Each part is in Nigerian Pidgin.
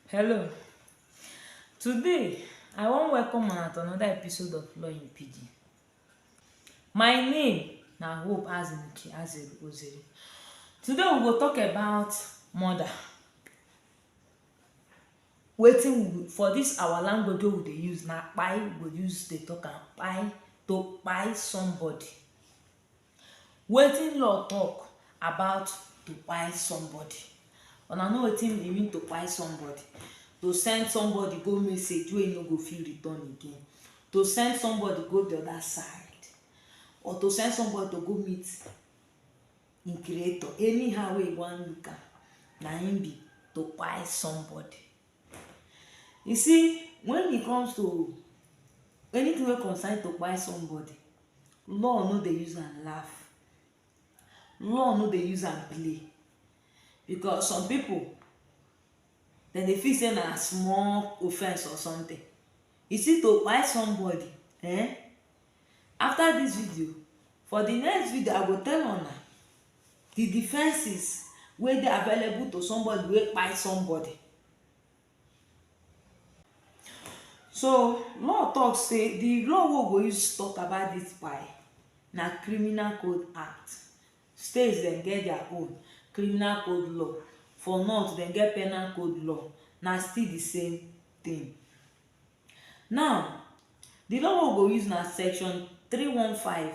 Hello. Today, I wan welcome una to another episode of Law in Pidgin. My name na Hope Azimuke Azeruozere. Today, we go talk about murder. Wetin we for this our language wey we dey use na kpai we go use dey talk am kpai to kpai somebody. Wetin law talk about to kpai somebody? Una know wetin e mean to kpai somebody? To send somebody go message wey e no go fit return again. To send somebody go the other side or to send somebody to go meet im creator. Anyhow wey you wan look am, na im be to kpai somebody. You see when e comes to anything wey concern to kpai somebody, law no dey use am laugh, law no dey use am play because some pipu dem dey feel sey na small offence or something. You see to kpai somebody um After this video, for the next video I go tell una the defenses wey dey available to somebody wey kpai somebody. So law talk say the law wey we go use talk about this kpai na criminal code act. States dem get their own criminal code law, for north dem get penal code law na still the same thing. Now, the law wey we go use na section 315,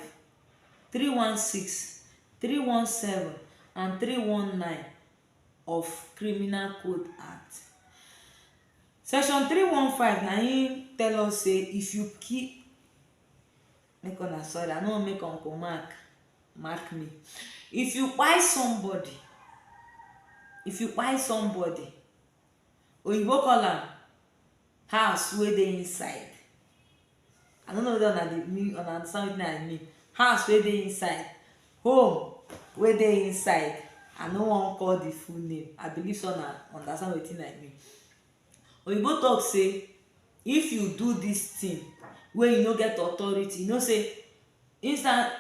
316, 317 and 319 of Criminal Code Act. Section 315 na im tell us say if you kill make una sorry I no wan make uncle mark mark me. If you kpai somebody if you kpai somebody Oyinbo call am house wey dey inside. I no know whether una dey mean una understand wetin I mean. House wey dey inside, home wey dey inside. I no wan call the full name. I believe sey una understand wetin I mean. Oyinbo talk sey if you do dis thing wey you no get authority, you know sey inside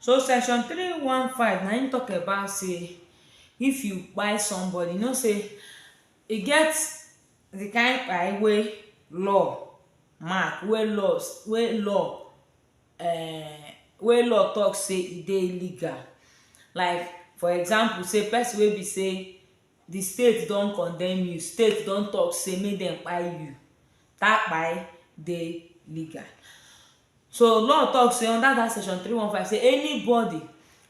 So section three one five na im talk about say if you kpai somebody, you know say e get the kind kpai wey law mark, wey laws wey law um wey law talk say e dey illegal. Like for example say person wey be say the state don condemn you, state don talk say make dem kpai you, that kpai dey legal. So law talk say under that section three one five say anybody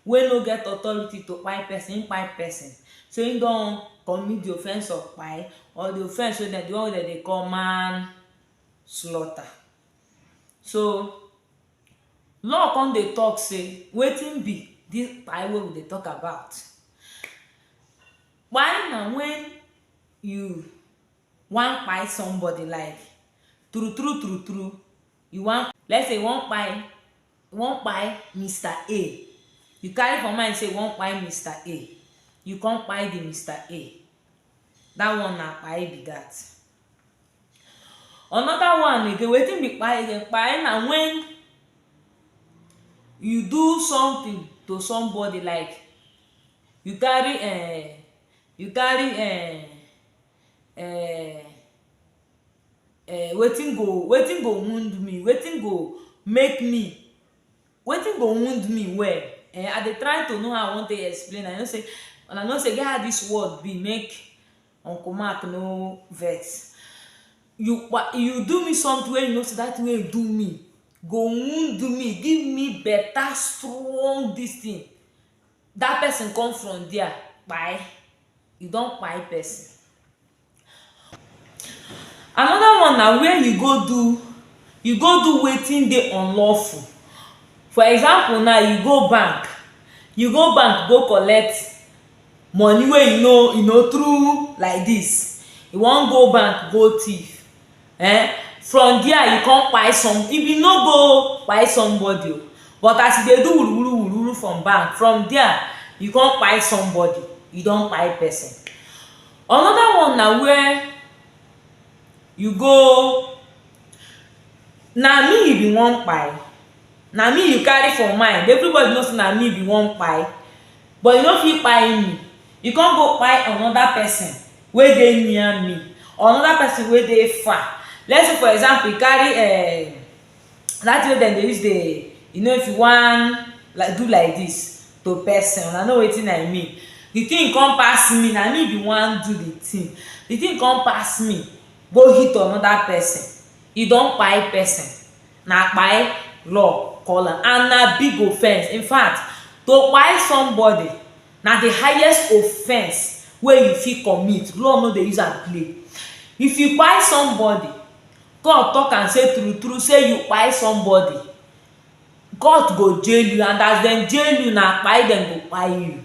wey no get authority to kpai person, him kpai person so him don commit the offence of kpai or the offence wey dem the one wey dem dey call man slaughter. So law come dey talk say wetin be this kpai wey we dey talk about? Kpai na when you wan kpai somebody life true true true true you wan let's say you wan kpai you wan kpai Mister A you carry for mind say you wan kpai Mister A you come kpai the Mister A that one na kpai be that another one again wetin be kpai again kpai na when you do something to somebody like you carry um you carry um um um wetin go wetin go wound me wetin go make me wetin go wound me well um i dey try to know how i wan take explain am you know sey una know sey e get how dis world be make uncle mark no vex you kpa you do me sometin wey you know sey dat tin wey you do me go wound me give me beta strong dis tin dat person come from dia kpai you don kpai person. Another one na where you go do you go do wetin dey unlawful for example now you go bank you go bank go collect money wey you no you know through like this you wan go bank go thief um from there you come kpai some if you no go kpai somebody but as you dey do wuru wuru wuru wuru from bank from there you come kpai somebody you don kpai person another one na where you go na me you be wan kpai na me you carry for mind everybody know say na me you be wan kpai But you no fit kpai me. You come go kpai another person wey dey near me or another person wey dey far. Let's say for example, you carry um that thing wey dem dey use dey, you know if you wan like do like this to person, una know wetin I mean. The thing come pass me, na me be wan do the thing. The thing come pass me go hit another person. You don kpai person. Na kpai law call am and na big offense. In fact, to kpai somebody na the highest offense wey you fit commit. Law no dey use am play. If you kpai somebody, court talk am say true true say you kpai somebody, court go jail you and as dem jail you, na kpai dem go kpai you.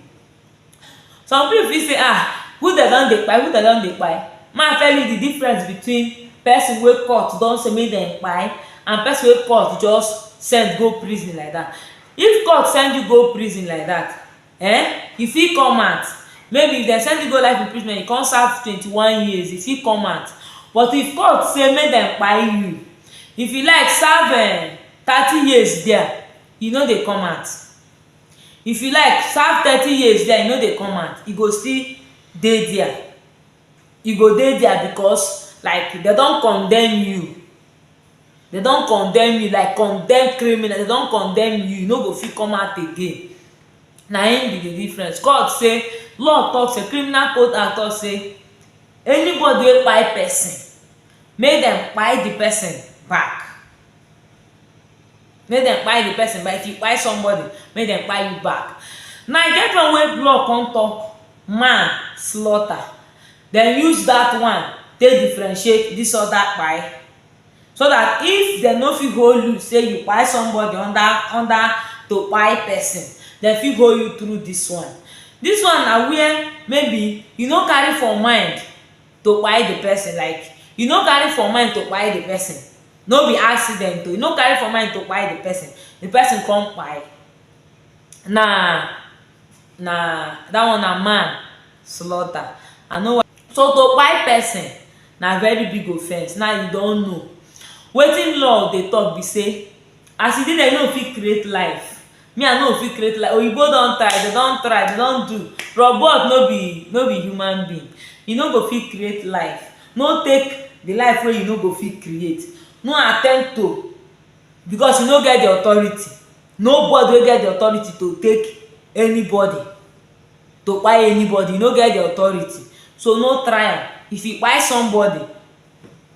Some pipu fit sey ah, who dem don dey kpai, who dem don dey kpai? Make I tell you di difference between pesin wey court don sey make dem kpai and pesin wey court just send go prison like dat. If court send you go prison like dat, um you fit come out, maybe if dem send you go life imprisonment, you come serve twenty one years, you fit come out. But if court sey make dem kpai you, if you like serve um thirty years dia, you no dey come out. If you like serve thirty years dia you no dey come out you go still dey dia you go dey dia because like dem don condemn you dem don condemn you like condemned criminal dem don condemn you you no go fit come out again na im be the difference court say law talk say criminal code act talk say anybody wey kpai person make dem kpai the person back Make dem kpai the person but if you kpai somebody, make dem kpai you back. Now e get one wey blog come talk man slaughter dem use that one take differentiate this other kpai so that if dem no fit hold you say you kpai somebody under under to kpai person dem fit hold you through this one. This one na where maybe you no carry for mind to kpai the person like you no carry for mind to kpai the person no be accident o you no carry for mind to kpai the person the person come kpai na na that one na man slaughter i no wan so to kpai person na very big offence now you don know wetin law dey talk be say as e be like you no fit create life Me I no fit create like oyibo don try dem don try dem don do robot no be no be human being e no go fit create life no take the life wey you no go fit create no attempt to because you no get the authority no body wey get the authority to take any body to kpai any body you no get the authority so no try am if you kpai somebody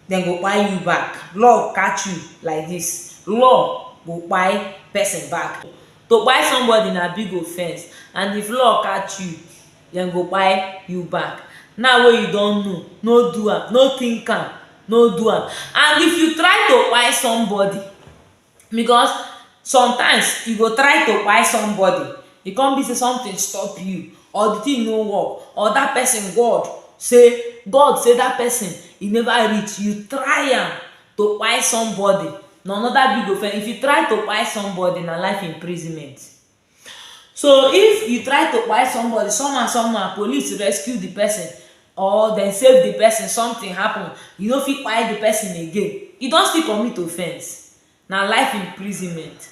dem go kpai you back. Love catch you like this, love go kpai person back. To kpai somebody na big offense and if love catch you, dem go kpai you back. Now wey you don know, no do am, no think am, no do am. And if you try to kpai somebody, because sometimes you go try to kpai somebody e come be sey something stop you or the thing no work or that person God sey God sey that person e never reach you try am to kpai somebody na another big offence if you try to kpai somebody na life imprisonment So if you try to kpai somebody somehow somehow police rescue di person or dem save di person something happen you no fit kpai di person again you don still commit offence na life imprisonment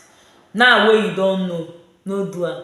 now wey you don know no do am